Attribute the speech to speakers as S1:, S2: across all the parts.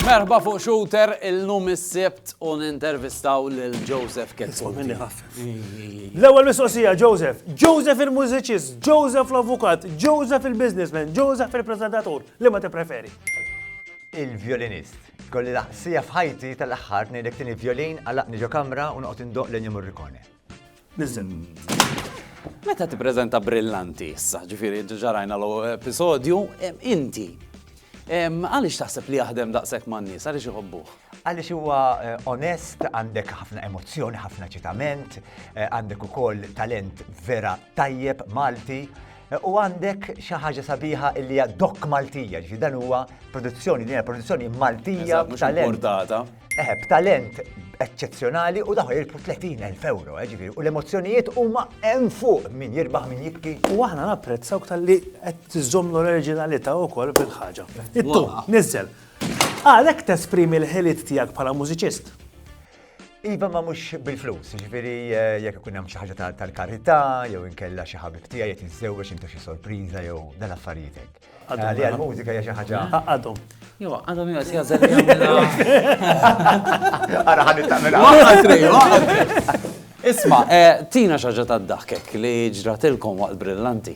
S1: Merħba fuq Shooter il-lum is-Sibt u nintervistaw lil Joseph Ketsu.
S2: L-ewwel mistoqsija Joseph, Joseph il-mużiċist, Joseph l-avukat, Joseph il-businessman, Joseph il-presentatur, li ma tippreferi?
S3: Il-vjolinist. Kolli laqsija f'ħajti tal-aħħar ngħidlek tieni vjolin għalaqni ġo kamra u noqgħod indoq l-Ennio Morricone.
S1: Meta tippreżenta brillanti issa, ġifieri ġarajna l-ewwel episodju, inti għaliex taħseb li jaħdem daqshekk man-nies, għaliex iħobbuh? Għaliex huwa
S3: eh, onest, għandek ħafna emozzjoni, ħafna ċitament, eh, għandek ukoll talent vera tajjeb Malti, U għandek xi ħaġa sabiħa li hija dok Maltija, ġifi dan huwa produzzjoni, din produzzjoni Maltija b'talent. Eh, b'talent eċċezzjonali u daħu jirbu 30.000 euro, eh, ġifi, u l-emozzjonijiet huma hemm fuq min jirbaħ min jibki. U aħna napprezzaw
S2: tal-li qed tiżomm l-oriġinalità wkoll bil-ħaġa. Ittu, niżel. Għalhekk tesprimi l-ħiliet tiegħek bħala mużiċist. Iva
S3: ma mhux bil-flus, ġifieri eh, jekk ikun hemm xi ħaġa tal-karità jew inkella xi ħabib tiegħi qed jiżżewweġ intu xi sorpriża jew dan affarijiet hekk. Għalli għall-mużika hija xi ħaġa. Għadhom. Jo,
S2: għadhom jo,
S1: si għażel
S3: Ara ħad Isma,
S1: eh, tina xaġa ta' daħkek li ġratilkom waqt brillanti.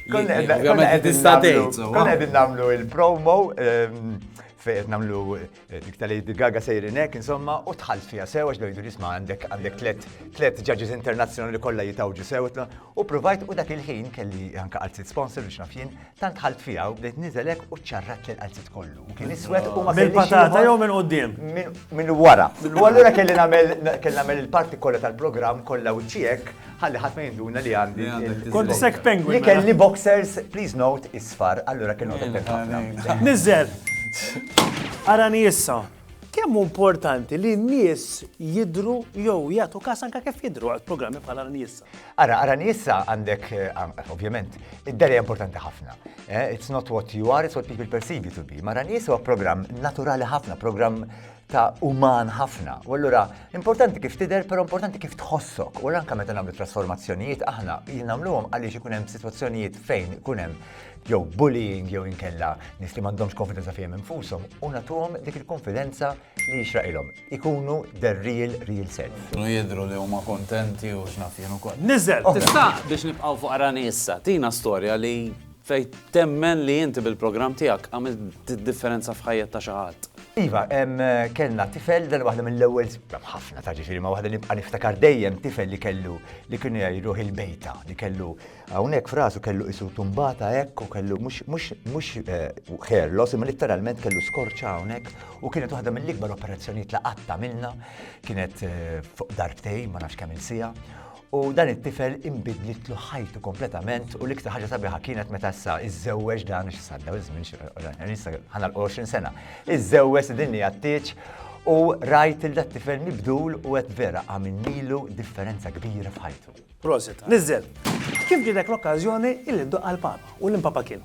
S3: Konna għedin namlu il-promo ehm, fejn namlu Dik ta' Lady Gaga sejrin hekk insomma u tħalt fiha sew għax bejdu jisma' għandek għandek tliet tliet ġaġis internazzjonali kollha jitawġu sew u provajt u dak il-ħin kelli anke qalzit sponsor biex naf jien tant ħalt fiha u bdejt niżel hekk u ċarrat li qalzit kollu. Kien iswed u ma kellix. Mill-patata jew minn quddiem?
S2: Minn wara.
S3: U allura kelli nagħmel kelli nagħmel il-parti kollha tal-programm kollha u ċiek Ħalli ħadd ma jinduna li għandi. Kont dissek penguin. Li mela.
S2: kelli boxers,
S3: please note, isfar, allura kelli note ħafna. Nizzel!
S2: Arani issa. Kemm importanti li n-nies jidru jew jagħtu kas anke kif jidru għal programmi bħal Arani issa? Ara, Arani issa
S3: għandek, eh, ovvjament, id-deri importanti ħafna. Eh, it's not what you are, it's what people perceive you to be. Ma Arani issa huwa programm naturali ħafna, programm ta' uman ħafna. U allura importanti kif tidher, però importanti kif tħossok. U anke meta nagħmlu trasformazzjonijiet aħna nagħmluhom għaliex ikun hemm sitwazzjonijiet fejn ikun hemm jew bullying jew inkella nis li m'għandhomx konfidenza fihom infushom u nagħtuhom dik il-konfidenza li jixraqilhom. Ikunu the real real self. Kienu jidhru li huma
S1: kontenti u x'naf jien ukoll. Niżel, tista'
S2: biex nibqgħu
S1: fuq Arani issa, tina storja li Fejn temmen li inti bil-programm tiegħek għamilt differenza f'ħajjet ta' xi ħadd. Iva,
S3: kellna tifel dan waħda mill-ewwel ħafna ta' ġifieri ma waħda nibqa' niftakar dejjem tifel li kellu li kien jgħiduh il-bejta li kellu hawnhekk frasu kellu isu tumbata hekk u kellu mhux mhux ħerlos eh, imma litteralment kellu skorċa hawnhekk u kienet waħda mill-ikbar operazzjonijiet li qatt għamilna kienet eh, fuq darbtejn ma nafx kemm il-sija U dan it-tifel inbidlitlu ħajtu kompletament u l-iktar ħaġa sabiħa kienet meta issa iżżewweġ dan xi sadda iż-żmien xi ħana l-20 sena. Iżżewweġ din li għattieġ u rajt il tifel mibdul u qed vera għamilnilu differenza kbira f'ħajtu. Prosit. Nizzel.
S2: Kif ġidek l-okkażjoni illi ddoqqa l-Papa u l-Impapa kien?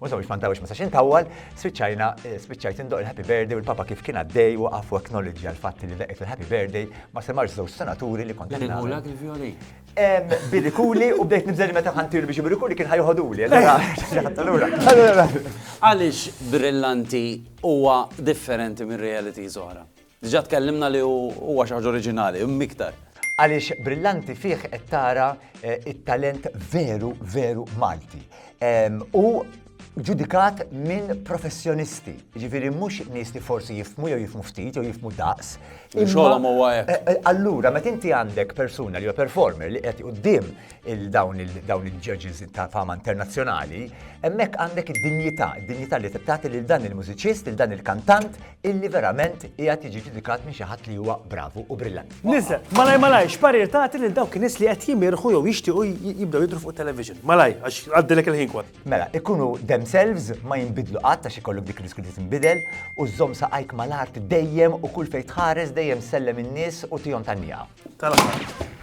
S3: U sabiex ma ntawilx ma sax intawwal, spiċċajna eh, spiċċajt indoq il-Happy Birthday u l-Papa kif kien għaddej u għafu acknowledge għal fatt li daqqiet il-Happy Birthday ma semmarx żewġ senaturi li kont Bilgulak il-vjoli.
S1: Birikuli
S3: u bdejt nibżel meta ħantilu biex birikuli kien ħajħoduli.
S1: Għaliex brillanti huwa differenti minn reality zoħra? Diġà tkellimna li huwa xi ħaġa oriġinali, imma iktar. Għaliex brillanti
S3: fih qed tara t-talent veru, veru Malti. Hu ġudikat minn professjonisti, jiġifieri mhux nies li forsi jifhmu jew jifhmu ftit jew jifhmu daqs. Li xogħolhom huwa
S1: hekk. Allura meta inti
S3: għandek persuna li huwa performer li qiegħed quddiem il-dawn il-dawn il-judges ta' fama internazzjonali, hemmhekk għandek id-dinjità, id-dinjità li tagħti lil dan il-mużiċist, lil dan il-kantant illi verament qiegħed jiġi ġudikat minn xi ħadd li huwa bravu u brillant. Niżel, malaj malaj,
S2: x'parir tagħti lil dawk in-nies li qed jimirħu jew jixtiequ jibdew jidru fuq television. Malaj, għax għaddilek il-ħin kwan. Mela, ikunu
S3: themselves ma jinbidlu qatt għax ikollok dik riskju li tinbidel u żomm saqajk mal-art dejjem u kull fejn tħares dejjem sellem in-nies u tihom tan-nieqa. tal-aħħar.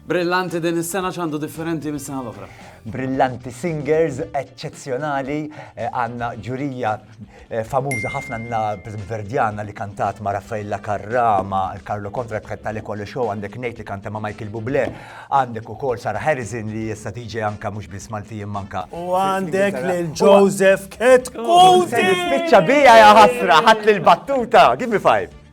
S1: Brillanti din is-sena x'għandu differenti mis-sena l-oħra. Brillanti
S3: singers eċċezzjonali eh, għandna ġurija eh, famuża ħafna għandna Verdjana li kantat ma' Raffaella Karrama, Karlo Kontra kħed tal kollu show għandek Nate li kanta ma' Michael Bublé, għandek ukoll Sara Harrison li jessa tiġi anka mhux biss Malti manka. U għandek
S2: lil Joseph Ketkuti! Spiċċa
S3: bija ja ħasra ħadd lil battuta, give me five.